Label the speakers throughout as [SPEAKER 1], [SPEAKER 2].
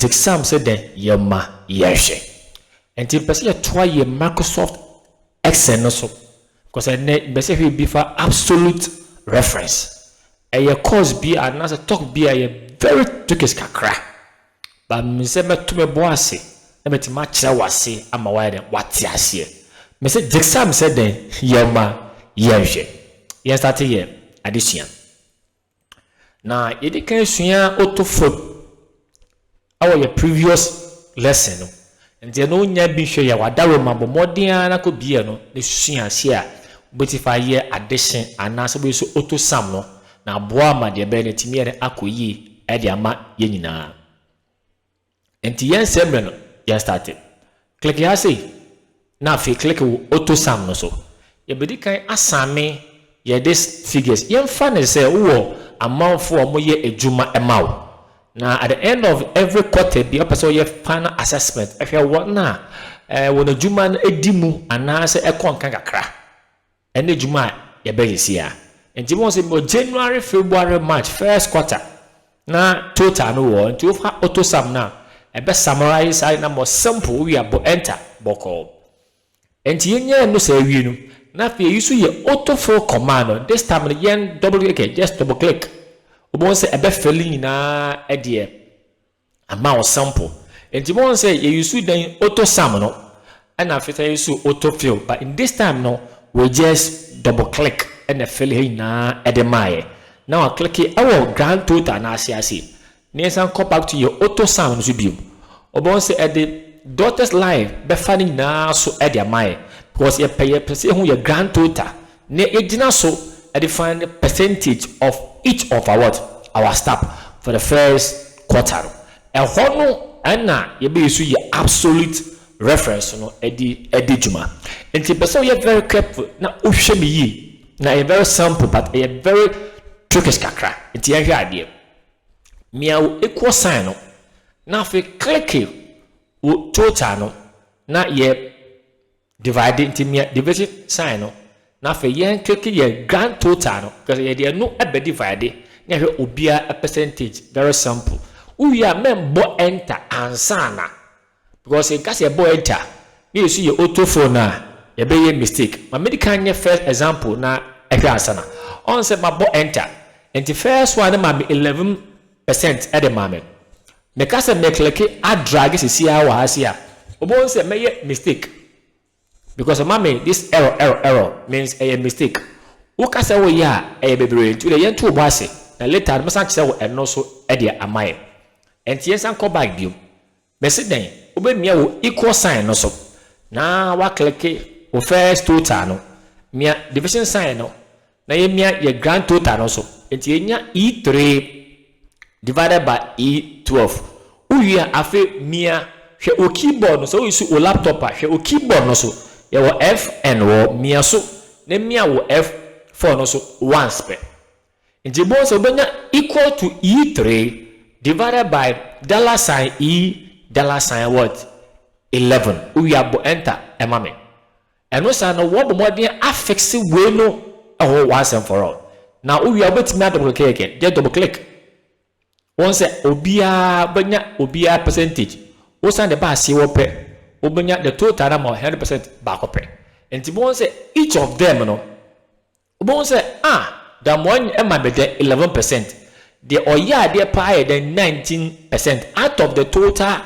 [SPEAKER 1] Gypsum sɛ dɛn yɛ ma yɛhwɛ nti mpɛ sɛ yɛtoa yɛ Microsoft Excel no so kɔsɛ nnɛ mpɛ sɛ yɛhwɛ bi fa absolute reference ɛyɛ course bi a anaasɛ talk bi a yɛ very tokes kakra. But me sɛ mɛto me bo ase na matumi akyerɛ wo ase ama wayɛ dɛn wate aseɛ me sɛ gyesam sɛ dɛn yɛ ma yɛ nhwɛ yɛn starte yɛ adesua no na yɛdi kan sua oto fam ɛwɔ yɛ previous lesson no Ndeɛ no nya bi hwɛ yɛ w'adaroma bɔ mmɔden ara na kɔ bia no na sua aseɛ a wobɛti fa ayɛ adehye anaa sɛ wobɛyɛ sɛ oto sam no na aboa wo ama deɛ ɛbɛyɛ no atumi yɛ dɛ akɔ yie de ama yɛn nyinaa. Nti yɛn nsɛe mmerɛ no yɛn starte. Kleke ha sei na afei kleke wo oto sam no so. Yɛbɛdi kan asame yɛ this figures. Yɛn fa no sɛ wowɔ amanfoɔ a wɔyɛ adwuma ma wo Na at the end of every quarter bia ɔpɛ sɛ ɔyɛ final assessment hwɛ wɔn a wɔn adwuma no di mu anaasɛ ɛkɔ nka kakra ɛne adwuma a yɛbɛyɛ sia. Nti mo sɛ wɔ January, February, March, first quarter na total no wɔ hɔ nti wofa auto sum no a ɛbɛ summarise saa de na mo simple wowie a bɔ enter bɔkɔɔ. Enti yɛnyaa no saa wie no na afei yɛyi so yɛ auto fill command no this time no yɛn double click ɛ just double click wobɛhu sɛ ɛbɛ fill nyinaa ɛdeɛ ama wo sample enti wobɛhu sɛ yɛyi so dɛn auto sum no ɛna afei sɛ yɛyi so auto fill but in this time no we just double click ɛna fill ha nyinaa ɛde maayɛ na wa click ɛwɔ grand total no ase ase Na yɛnsan nkɔ back to yɛn auto sound no so bio. Wɔbɛhu sɛ ɛde daughter's life bɛfa ne nyinaa so de ama yɛn because yɛpɛ yɛpɛ sɛ yɛhu yɛn grand total na yɛgyina so de find percentage of each of our what? Our staff for the first quarter no. Ɛhɔ no ɛna yɛbɛ use yɛn absolute reference no de adi dwuma. Nti mpɛ sɛ woyɛ very careful na wohwɛ no yie. Na ɛyɛ very simple but ɛyɛ very trickish kakra. Nti yɛnhwɛ adeɛ. Mia wo equal sign no, na afei kleke wo total no, na yɛ divide nti mia division sign no, na afei yɛn kleke yɛ grand total no, kyerɛ sɛ yɛde ɛno ɛbɛ divide na yɛhwɛ obiara percentage, very simple. Wowie a mɛmbɔ enter ansa na. Because nka sɛ yɛbɔɔ enter na yɛsu yɛ auto phone no a, yɛbɛyɛ mistake. Ma medi kan nyɛ first example na ɛhwɛ ansa na. Ɔn sɛ mabɔ enter, nti first one no maa me eleven percent de maa me. Meka sɛ me click adrage sesiaa wɔ ha sei a, wobɛhu sɛ mɛyɛ mistake. Because ɔma me this error error error means ɛyɛ mistake woka sɛ woyɛ a ɛyɛ bebree nti wodeɛ yɛnto wo bo ase na later no mɛsan kyerɛ wo ɛno so deɛ amayɛ ɛnti yɛnsan nkɔ back biom mese dɛn wobɛmia wo equal sign no so na woaklicke wo first total no mia division sign no Na yɛmia yɛ grand total no so. Nti yɛnya E three divided by E twelve. Wo wie a, afei mia, hwɛ wo keyboard no, sɛ wo use wo laptop a, hwɛ wo keyboard no so. Yɛwɔ Fn wɔ hɔ, mia so, na mia wo F four no so once pɛ. Nti yɛbɛhu sɛ wobɛnya equal to E three divided by dollar sign E dollar sign what? Eleven. Wo wie a, bɔ enter ma me. Ɛno saa no wɔbɔ mmɔden afixe wei no ɛhɔ once and for all. Na wowie a wobɛtumi a double click again. Just double click. Wɔn sɛ obiara bɛnya obiara percentage. Wosan de ba aseɛ wɔ pɛ, wobɛnya the total number 100% baako pɛ. Nti wɔn sɛ each of them no Wobɛhu sɛ, Ah, Damoa ma me dɛ eleven percent, deɛ ɔyɛ adeɛ paa yɛ dɛn nineteen percent out of the total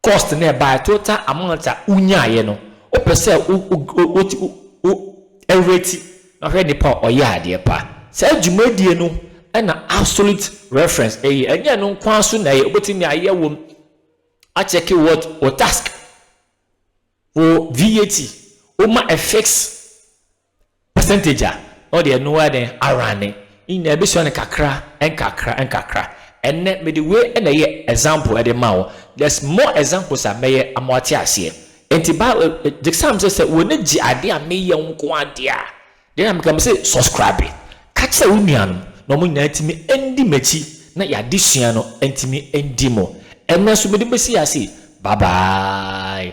[SPEAKER 1] cost na ɛbaeɛ, total amount a wonyaaeɛ no, wopɛ sɛ wo wo wo wo rate na hwɛ nipa a ɔyɛ adeɛ paa. Saa dwumadie no na absolute reference ɛyɛ, ɛnyɛ ɛno nko ara so na ɛyɛ, wobɛtumi ayɛ wo akyɛke what wo task, wo VAT, woma ɛfix percentage a, na ɔde ɛno ara dɛn, arane, ne nyinaa ɛbɛsua no kakra nkakra nkakra. Ɛnnɛ, mede wei na ɛyɛ example de ma wo. There's more examples a mɛyɛ ama woate aseɛ. Nti ba, gyesam sɛ sɛ w'ani gye adeɛ a meyɛ nko ara deɛ a, deɛ na meka, mese subscribe. Ka kyerɛ wo nuanom na wɔn nyinaa ntumi ndi m'akyi na y'adesua no ntumi ndi mu. Ɛnnɛ nso mede bɛsi ase yi, bye bye.